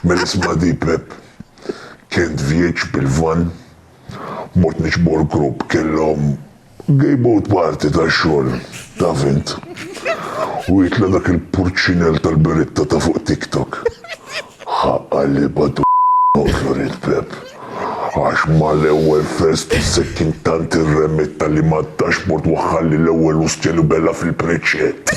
Mela isma' di Pepp. Kien tvieġ bil-vann. Mort niċbu l-grupp. Kellhom gay boat party tax-xogħol, taf int. U jitla' dak il-purċinell tal-beritta ta' fuq TikTok. Ħa qalibha d. Noqtlu rid Pepp. Għax mal-ewwel fest u s-sekkin tant irremitta li mad-dashboard waħħalli l-ewwel ustja libella fil-preċċett.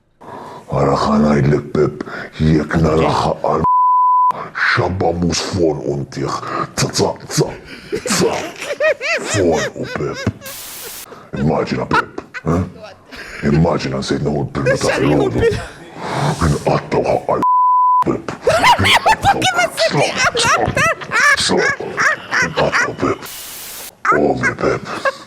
Ara xa ngħidlek Pepp jekk narah għal xabba mus f'għonqu ntih za za za za f'għonqu Pepp. Immaġina Pepp, eh? Immaġina nsejt neħu l-pillu ta' filgħodu. Inqattgħu ħaqqa l Pepp. Inqattgħu Pepp. Ovvju Pepp.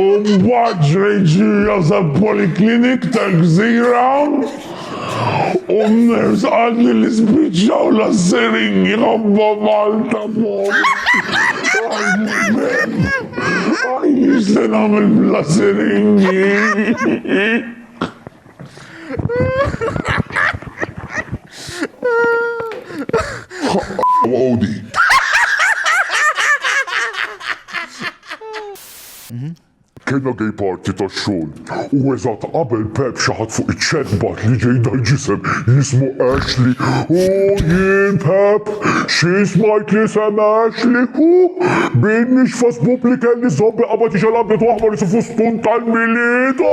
U mbagħad ġrejt ġirja sal-poliklinik tal-gżira u n-nurse qaltli li spiċċaw l-assiringi ħobba Malta mort. Għajni x'se nagħmel bl-assiringi. Kienna gay party ta' xogħol u eżatt qabel Pep xaħat fuq iċ-ċerbat li ġej dal-ġisem jismu Ashley u jien Pep Xi smajt li semgħex li hu? Bidniex fost popli kelli żombi qabad ixgħal abjad u aħmar isu fustun tal-Milied.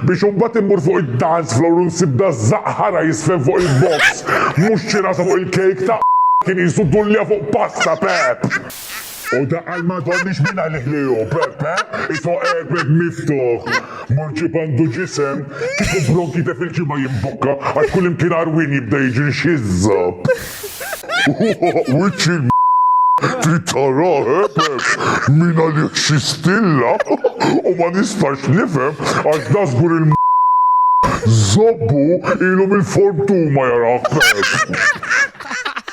Biex imbagħad immur fuq id-dance floor u nsib dażżaq ħara jiżfen fuq il-box. Mhux xi rasa fuq il-kejk ta' kien qisu dullja fuq pasta, Pepp! U dak għal m'għadhomniex min għalih li hu, Peppe, isu qegħbed miftuħ. Mor ġieb għandu ġisem, kieku bronkite fil-ġimgħa jimbukka għax kullimkien għarwien jibda jiġri nxiżża. Wiċċ il-m trid taraħ, eh, Pepp, min għalih xi stilla u ma nistax nifhem għax da żgur il-m żobbu ilu mill-fortuma jarah Pepp.